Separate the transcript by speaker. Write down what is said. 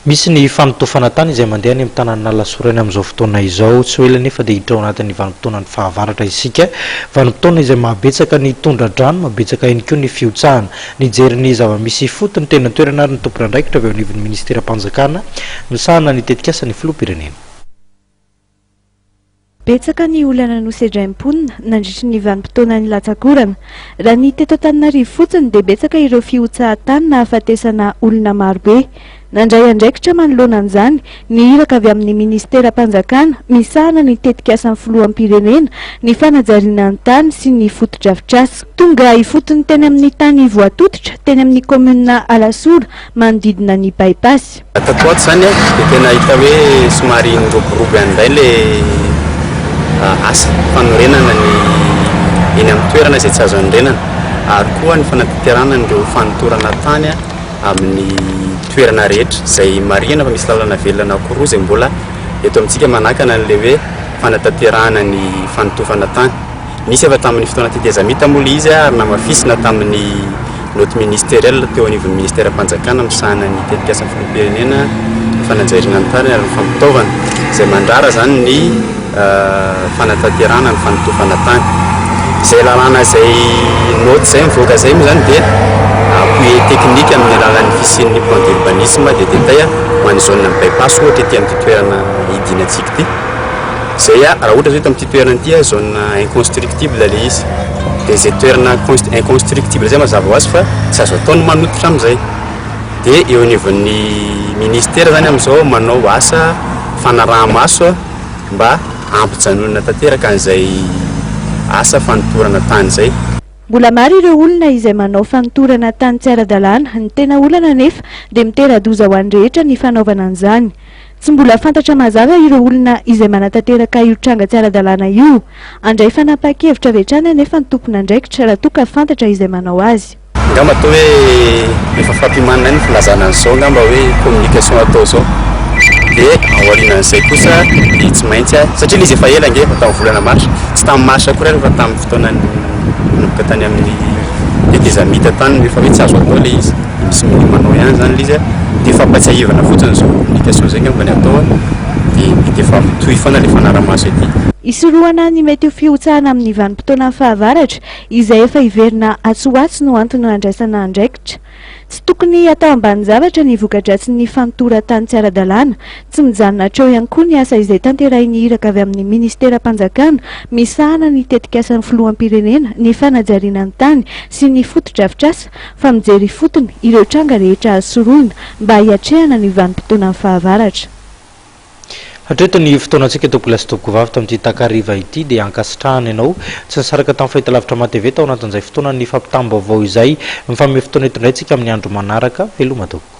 Speaker 1: Misy ny fanotofana tany izay mandeha any amin'ny tanàn'Alasora any amin'izao fotoana izao. Tsy ho ela anefa dia hiditra ao anatin'ny vanim-potoanan'ny fahavaratra isika. Vanim-potoana izay mahabetsaka ny tondra-drano, mahabetsaka ihany koa ny fihotsahana. Nijery ny zava-misy ifotony teny an-toerana ary ny tompon'andraikitra avy ao anivon'ny minisiteram-panjakana misahana ny tetikasa ny filoham-pirenena.
Speaker 2: Betsaka ny olana nosedrain'ny mponina nandritry ny vanim-potoana nilatsak'orana. Raha ny teto Antananarivo fotsiny dia betsaka ireo fihotsahan-tany nahafatesana olona marobe. Nandray andraikitra manoloana an'izany ny iraka avy amin'ny minisiteram-panjakana misahana ny tetikasan'ny filoham-pirenena ny fanajariana ny tany sy ny fotodrafitrasa. Tonga ifotony teny amin'ny tany voatototra teny amin'ny kaominina Alasora manodidina ny By-pass. Tato ho ato izany
Speaker 3: dia tena hita hoe somary niroborobo ihany indray ilay asa fanorenana ny eny amin'ny toerana izay tsy azo anorenana ary koa ny fanatanterahana an'ireo fanintorana tany amin'ny toerana rehetra izay marihina fa misy lalana velona anankiroa izay mbola eto amintsika manakana an'ilay hoe fanatanterahana ny fanotofana tany. Nisy efa tamin'ny fotoana tetezamita moa ilay izy ary namafisina tamin'ny naoty ministeriela teo anivon'ny ministeram-panjakana misahana ny tetikasa filoham-pirenena, ny fanajariana ny tariny ary ny fampitaovana, izay mandrara izany ny fanatanterahana ny fanotofana tany. Izay lalàna izay naoty izay mivoaka izay moa izany dia appui technique amin'ny alalan'ny fisian'ny plan d'urbanisme dia tetaia ho an'ny zone-n'ny by-pass ohatra ity amin'ity toerana hidinan-tsika ity. Zay ah, raha ohatra zao eto amin'ity toerana ity ah zone inconstructible le izy de zay toerana inconstructible zay mazava ho azy fa tsy azo atao ny manototra amin'izay de eo anivon'ny ministera zany amin'izao manao asa fanaraha-maso ah mba hampijanonana tanteraka an'izay asa fanotorana tany zay. Mbola maro ireo
Speaker 2: olona izay manao fanotorana tany tsy ara-dalàna, ny tena olana anefa dia mitera-doza ho an'ny rehetra ny fanaovana an'izany. Tsy mbola fantatra mazava ireo olona izay manatanteraka io tranga tsy ara-dalàna io. Handray fanapahan-kevitra avy hatrany anefa ny tompon'andraikitra raha toa ka fantatra izay manao azy. Angamba toa hoe
Speaker 3: efa fampimanana ihany ny filazana an'izao angamba hoe communication atao izao. Dia ao aorianan'izay kosa dia tsy maintsy, satria ilay izy efa ela ange, efa tamin'ny volana marsa, tsy tamin'ny marsa akory ary fa tamin'ny fotoana nanomboka tany amin'ny tetezamita tany no efa hoe tsy azo atao ilay izy. Misy mbola manao ihany zany le izy a, de fampatsiahivana fotsiny zao communication zay ngamba ny atao a, de mety efa mitohy foana le fanara-maso ety. Hisorohana ny
Speaker 2: mety ho fihotsahana amin'ny vanim-potoana fahavaratra izay efa hiverina atsy ho atsy no antony handraisana andraikitra. Tsy tokony hatao ambanin-javatra ny voka-dratsin'ny fanotoran-tany tsy ara-dalàna. Tsy mijanona hatreo ihany koa ny asa izay tanterahin'ny iraka avy amin'ny ministeram-panjakana misahana ny tetikasan'ny filoham-pirenena ny fanajariana ny tany sy ny fotodrafitrasa fa mijery ifotony ireo tranga rehetra azo sorohina mba hiatrehana ny vanim-potoanan'ny fahavaratra.
Speaker 1: Hatreto ny fotoanantsika Tompoko lahy sy Tompoko vavy tamin'ity takariva ity dia ankasitrahana ianao tsy nisaraka tamin'ny fahitalavitra matv tao anatin'izay fotoanan'ny fampitam-baovao izay mifanome fotoana hitondraintsika amin'ny andro manaraka, veloma Tompoko.